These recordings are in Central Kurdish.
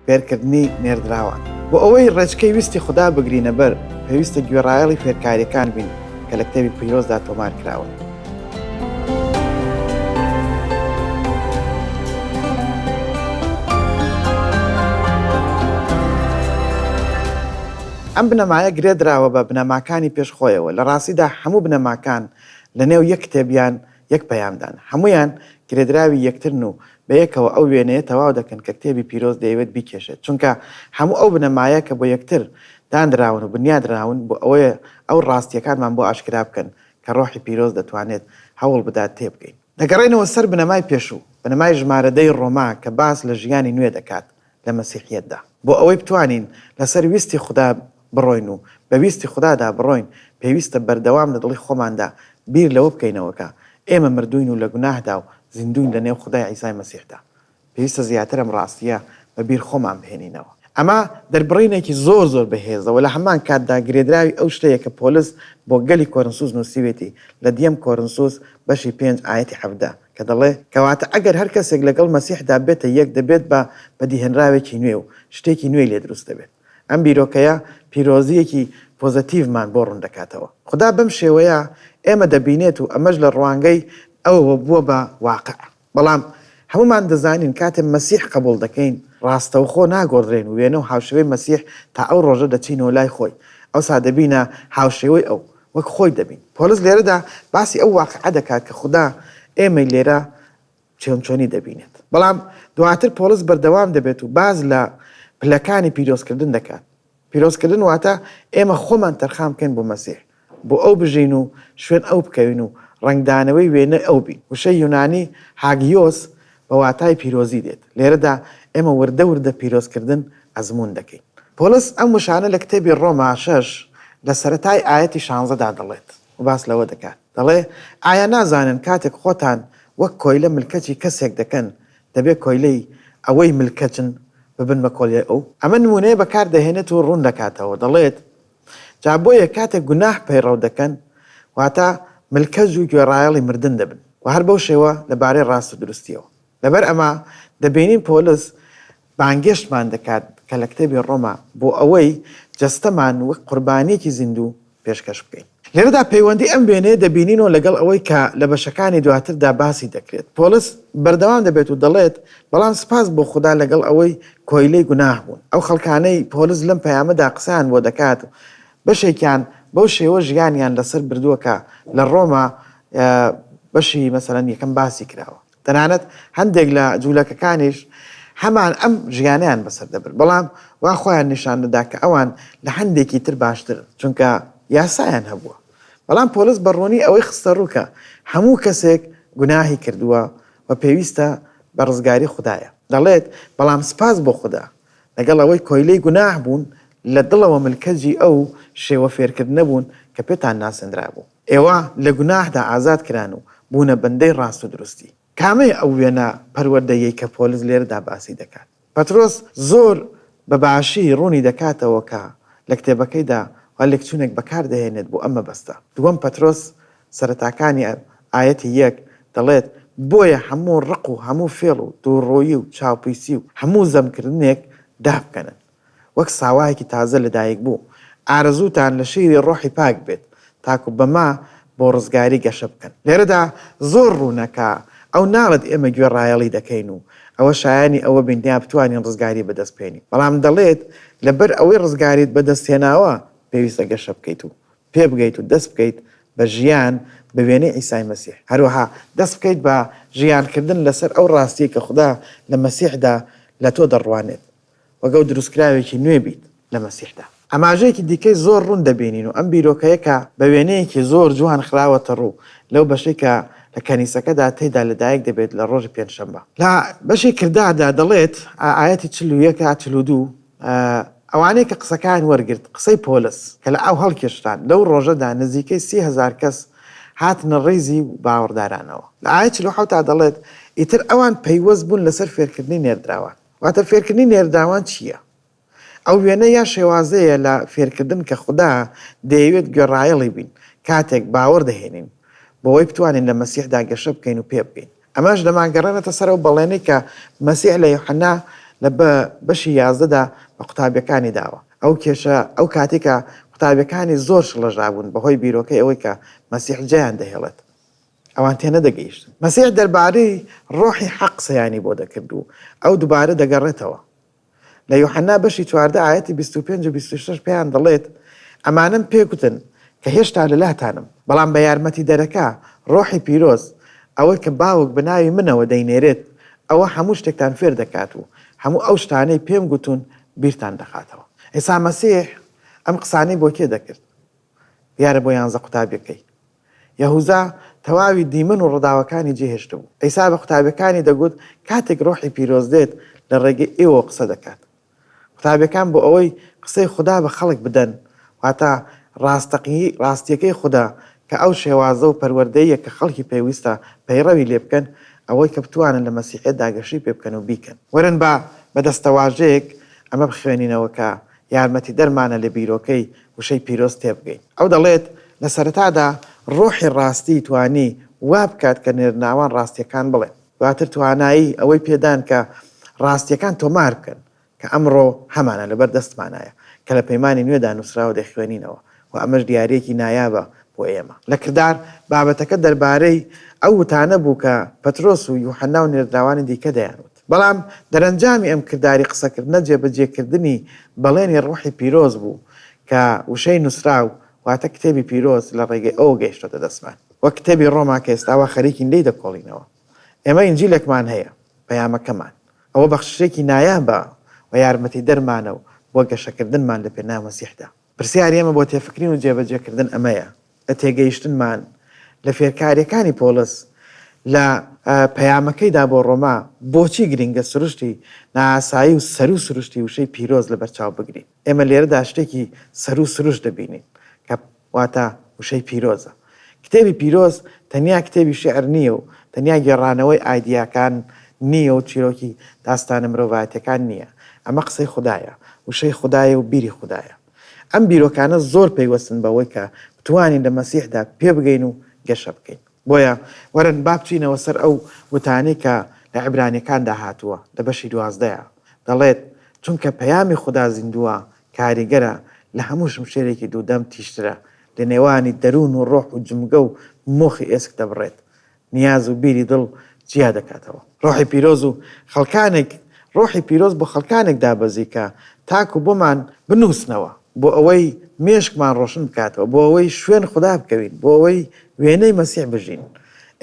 فێرکردنی نێردراوان. بۆ ئەوەی ڕێچکەی ویستی خودا بگرینە بەر، پێویستە گوێڕایەڵی فێرکارییەکان بین کە لە کتێبی پیرۆزدا تۆمار کراون. ئەم بنەمایە گرێدراوە بە بنەماکانی پێش خۆیەوە، لە ڕاستیدا هەموو بنەماکان لەنێو یەک کتێب یان یەک پەیامدان، هەموویان گرێدراوی یەکترن و بەیەکەوە ئەو وێنەیە تەواو دەکەن کە کتێبی پیرۆز دەیەوێت بیکێشێت، چونکە هەموو ئەو بنەمایە کە بۆ یەکتر دانراون و بنیادنراون بۆ ئەوەیە ئەو ڕاستییەکانمان بۆ ئاشکرا بکەن کە ڕۆحی پیرۆز دەتوانێت هەوڵ بدات تێبگەین. دەگەڕێینەوە سەر بنەمای پێشوو، بنەمای ژمارە دەی ڕۆما کە باس لە ژیانی نوێ دەکات، لە مەسیحیەتدا. بۆ ئەوەی بتوانین لەسەر ویستی خودا بڕۆین و بە ویستی خودادا بڕۆین، پێویستە بەردەوام لە دڵی خۆماندا بیر لەوە بکەینەوە کە ئێمە مردووین و لە گوناهدا و زیندووین لەنێو خودای عیسای مەسیحدا. پێویستە زیاتر ئەم ڕاستییە بە بیر خۆمان بهێنینەوە. ئەمە دەربڕینێکی زۆر زۆر بەهێزە و لە هەمان کاتدا گرێدراوی ئەو شتەیە کە پۆلس بۆ گەلی کۆرنسوس نووسیوێتی لە دیەم کۆرنسوس بەشی پێنج ئایەتی حەڤدە، کە دەڵێ، کەواتە ئەگەر هەر کەسێک لەگەڵ مەسیحدا بێتە یەک، دەبێت بە بەدیهێنراوێکی نوێ و شتێکی نوێی لێ دروست دەبێت. ئەم بیرۆکەیە پیرۆزییەکی پۆزەتیڤمان بۆ ڕوون دەکاتەوە. خودا بەم شێوەیە ئێمە دەبینێت و ئەمەش لە ڕوانگەی ئەوەوە بووە بە واقع. بەڵام هەموومان دەزانین کاتێ مەسیح قەبووڵ دەکەین، ڕاستەوخۆ ناگۆڕدرێین و وێنە و هاوشێوەی مەسیح تا ئەو ڕۆژە دەچینەوە لای خۆی، ئەوسا دەبینە هاوشێوەی ئەو. وەک خۆی دەبین. پۆلس لێرەدا باسی ئەو واقیعە دەکات کە خودا ئێمەی لێرە چۆن چۆنی دەبینێت. بەڵام دواتر پۆلس بەردەوام دەبێت و باس لە پلەکانی پیرۆزکردن دەکات. پیرۆزکردن واتە ئێمە خۆمان تەرخان بکەین بۆ مەسیح، بۆ ئەو بژین و شوێن ئەو بکەوین و ڕەنگدانەوەی وێنەی ئەو بین. وشەی یونانی، هاگیۆس، بە واتای پیرۆزی دێت. لێرەدا ئێمە وردە وردە پیرۆزکردن ئەزموون دەکەین. پۆلس ئەم وشانە لە کتێبی ڕۆما شەش لە سەرەتای ئایەتی شانزەدا دەڵێت و باس لەوە دەکات، دەڵێ، ئایا نازانن کاتێک خۆتان وەک کۆیلە ملکەچی کەسێک دەکەن، دەبێ کۆیلەی ئەوەی ملکەچن ببن بە کۆلیای ئەو؟ ئەمە نموونەیە بەکار دەهێنێت و ڕوون دەکاتەوە، دەڵێت، جا بۆیە کاتێک گوناح پەیڕەو دەکەن واتە ملکەج و گوێڕایەڵی مردن دەبن و هەر بەو شێوە لە بارەی ڕاست و دروستییەوە. لەبەر ئەمە دەبینین پۆلس بانگێشتمان دەکات کە لە کتێبی ڕۆما بۆ ئەوەی جەستەمان وەک قوربانییەکی زیندوو پێشکەش بکەین. لێرەدا پەیوەندی ئەم وێنەیە دەبینینەوە لەگەڵ ئەوەی کە لە بەشەکانی دواتردا باسی دەکرێت. پۆلس بەردەوام دەبێت و دەڵێت، بەڵام سپاس بۆ خودا لەگەڵ ئەوەی کۆیلەی گوناح بوون. ئەو خەڵکانەی پۆلس لەم پەیامەدا قسەیان بۆ دەکات و بەشێکیان بەو شێوە ژیانیان لەسەر بردووە کە لە ڕۆما بەشی مەسەلەن یەکەم باسی کراوە. تەنانەت هەندێک لە جوولەکەکانیش هەمان ئەم ژیانیان بەسەر دەبرد، بەڵام وا خۆیان نیشان دەدا کە ئەوان لە هەندێکی تر باشترن، چونکە یاسایان هەبووە. بەڵام پۆلس بە ڕوونی ئەوەی خستەڕوو کە هەموو کەسێک گوناهی کردووە و پێویستە بە ڕزگاری خودایە. دەڵێت، بەڵام سوپاس بۆ خودا، لەگەڵ ئەوەی کۆیلەی گوناه بوون، لە دڵەوە ملکەجی ئەو شێوە فێرکردنە بوون کە پێتان ناسێنرابوو. ئێوە لە گوناهدا ئازاد کران و بوونە بەندەی ڕاست و دروستی. کامەیە ئەو وێنە پەروەردەیەی کە پۆلس لێرەدا باسی دەکات؟ پەترۆس زۆر بە باشی ڕوونی دەکاتەوە کە لە کتێبەکەیدا خوا لێکچوونێک بەکار دەهێنێت بۆ ئەم مەبەستە. دووەم پەترۆس سەرەتاکانی ئایەتی یەک دەڵێت، بۆیە هەموو ڕق و هەموو فێڵ و دووڕوویی و چاوپیسی و هەموو زەمکردنێک دابکەنن. وەک ساواێکی تازە لە دایک بوو ئارەزووتان لە شیری ڕۆحی پاک بێت تاکو بەمە بۆ ڕزگاری گەشە بکەن. لێرەدا زۆر ڕوونە کە ئەو ناڵێت ئێمە گوێڕایەڵی دەکەین و ئەوە شایانی ئەوە بین دەیا بتوانین ڕزگاری بەدەست بێنین بەڵام دەڵێت لە بەر ئەوەی ڕزگاریت بە دەست هێناوە پێویستە گەشە بکەیت و پێ بگەیت و دەست بکەیت بە ژیان بە وێنەی عیسای مەسیح هەروەها دەست بکەیت بە ژیان کردن لەسەر ئەو ڕاستیەی کە خودا لە مەسیحدا لە تۆ دەڕوانێت وەگەو دروستکراوێکی نوێ بیت لە مەسیحدا. ئاماژەیەکی دیکەی زۆر ڕوون دەبینین و ئەم بیرۆکە یە کە بە وێنەیەکی زۆر جوان خراوەتە ڕوو لەو بەشەی کە لە کەنیسەکەدا تێیدا لەدایک دەبێت لە ڕۆژی پێنجشەمبە. لە بەشی کرداردا دەڵێت، ئایەتی چل و یەک تا چل و دوو، ئەوانەی کە قسەکەیان وەرگرت، قسەی پۆلس، کە لە ئاو هەڵکێشران، لەو ڕۆژەدا نزیکەی سی هەزار کەس هاتنە ڕیزی باوەڕدارانەوە. لە ئایەت چل و حەوت دا دەڵێت، ئیتر ئەوان پەیوەست بوون لەسەر فێرکردنی نێردراوان. واتە فێرکردنی نێرداوان چییە؟ ئەو وێنە یا شێوازەیە لە فێرکردن کە خودا دەیەوێت گوێڕایەڵی بین کاتێک باوەڕ دەهێنین، بەوەی بتوانین لە مەسیحدا گەشە بکەین و پێبگەین. ئەمەش دەمانگەڕێنێتە سەر ئەو بەڵێنەی کە مەسیح لە یوحەنا لە بەشی یازدەدا بە قوتابییەکانی داوە. ئەو کێشە ئەو کاتەی کە قوتابییەکانی زۆر شڵەژابوون بەهۆی بیرۆکەی ئەوەی کە مەسیح جێیان دەهێڵێت. ئەوان تێنەدەگەیشتن مەسیح دەربارەی ڕۆحی حەق قسەیانی بۆ دەکرد و ئەو دوبارە دەگەڕێتەوە لە یوحەنا بەشی چواردە ئایەتی بیست و پێنج و بیست و شەش پێیان دەڵێت ئەمانەم پێگوتن کە هێشتا لەلاتانم بەڵام بە یارمەتیدەرەکە ڕۆحی پیرۆز ئەوەی کە باوک بە ناوی منەوە دەینێرێت ئەوە هەموو شتێکتان فێر دەکات و هەموو ئەو شتانەی پێم گوتوون بیرتان دەخاتەوە عیسا مەسیح ئەم قسانەی بۆ کێ دەکرد دیارە بۆ یانزە قوتابیەکەی یەهوزا تەواوی دیمەن و ڕداوەکانی جێهێشتبوو. عیسا بە قوتابیەکانی دەگوت کاتێک ڕۆحی پیرۆز دێت لە ڕێگەی ئێوەوە قسە دەکات. قوتابیەکان بۆ ئەوەی قسەی خودا بە خەڵک بدەن واتە ڕاستەقیی ڕاستیەکەی خودا کە ئەو شێوازە و پەروەردەیە کە خەڵکی پێویستە پەیڕەوی لێ بکەن ئەوەی کە بتوانن لە مەسیحیەتدا گەشەی پێ بکەن و بیکەن. وەرن با بە دەستەواژەیەک ئەمە بخوێنینەوە کە یارمەتیدەرمانە لە بیرۆکەی وشەی پیرۆز تێبگەین. ئەو دەڵێت، لە سەرەتادا ڕۆحی ڕاستی توانی وا بکات کە نێرناوان ڕاستییەکان بڵێن. دواتر توانایی ئەوەی پێدان کە ڕاستییەکان تۆمار بکەن، کە ئەمڕۆ هەمانە لەبەر دەستمانایە، کە لە پەیمانی نوێدا نووسرا و دەیخوێنینەوە و ئەمەش دیارییەکی نایابە بۆ ئێمە. لە کردار، بابەتەکە دەربارەی ئەو وتانە بوو کە پەترۆس و یوحەنا و نێردراوانی دیکە دەیانوت. بەڵام دەرەنجامی ئەم کرداری قسەکردنە جێبەجێکردنی بەڵێنی ڕوحی پیرۆز بوو کە وشەی نووسراو واتە کتێبی پیرۆز لە ڕێگەی ئەوە گەیشتۆتە دەستمان وەک کتێبی ڕۆما کە ئێستا وا خەریکین لێی دەکۆڵینەوە. ئێمە ئینجیلێکمان هەیە، پەیامەکەمان. ئەوە بەخششێکی نایابە و یارمەتیدەرمانە بۆ گەشەکردنمان لەپێناو مەسیحدا. پرسیاری ئێمە بۆ تێفکرین و جێبەجێکردن ئەمەیە، لە تێگەیشتنمان لە فێرکارییەکانی پۆڵس لە پەیامەکەیدا بۆ ڕۆما، بۆچی گرنگە سروشتی نائاسایی و سەروو سروشتی وشەی پیرۆز لەبەرچاو بگرین؟ ئێمە لێرەدا شتێکی سەروو سروشت دەبینین کە واتە وشەی پیرۆزە. کتێبی پیرۆز تەنیا کتێبی شیعر نییە و تەنیا گێڕانەوەی ئایدیاکان نییە و چیرۆکی داستانە مرۆڤایەتییەکان نییە. ئەمە قسەی خودایە، وشەی خودایە و بیری خودایە. ئەم بیرۆکانە زۆر پەیوەستن بەوەی کە بتوانین لە مەسیحدا پێبگەین و گەشە بکەین. بۆیە وەرن با بچینەوە سەر ئەو وتانەی کە لە عیبرانیەکاندا هاتووە لە بەشی دوازدەیا دەڵێت، چونکە پەیامی خودا زیندووە، کاریگەرە، لە هەموو شمشێرێکی دوودەم تیژترە، لە نێوانی دەروون و ڕۆح و جمگە و مۆخی ئێسک دەبڕێت، نیاز و بیری دڵ جیا دەکاتەوە. ڕۆحی پیرۆز و خەڵکانێک ڕۆحی پیرۆز بۆ خەڵکانێک دابەزی کە تاکو بۆمان بنووسنەوە، بۆ ئەوەی مێشکمان ڕۆشن بکاتەوە، بۆ ئەوەی شوێن خودا بکەوین، بۆ ئەوەی وێنەی مەسیح بژین.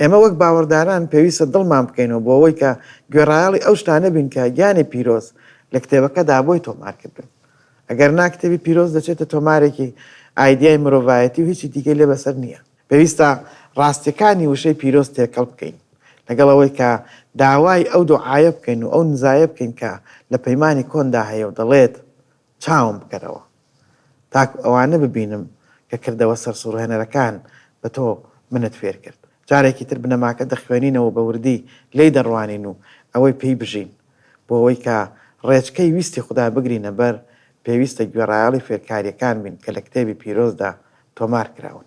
ئێمە وەک باوەڕداران پێویستە دڵمان بکەینەوە بۆ ئەوەی کە گوێڕایەڵی ئەو شتانە بین کە گیانی پیرۆز لە کتێبەکەدا بۆی تۆمار کردوون. ئەگەر نا کتێبی پیرۆز دەچێتە تۆمارێکی ئایدیای مرۆڤایەتی و هیچی دیکەی لێ بەسەر نییە. پێویستە ڕاستیەکانی وشەی پیرۆز تێکەڵ بکەین لەگەڵ ئەوەی کە داوای ئەو دۆعایە بکەین و ئەو نزایە بکەین کە لە پەیمانی کۆندا هەیە و دەڵێت، چاوم بکەرەوە تاکو ئەوانە ببینم کە کردەوە سەرسوڕهێنەرەکان بە تۆ منت فێر کرد. جارێکی تر بنەماکە دەخوێنینەوە و بە وردی لێی دەڕوانین و ئەوەی پێی بژین. بۆ ئەوەی کە ڕێچکەی ویستی خودا بگرینە بەر، پێویستە گوێڕایەڵی فێرکاریەکان بین کە لە کتێبی پیرۆزدا تۆمار کراون.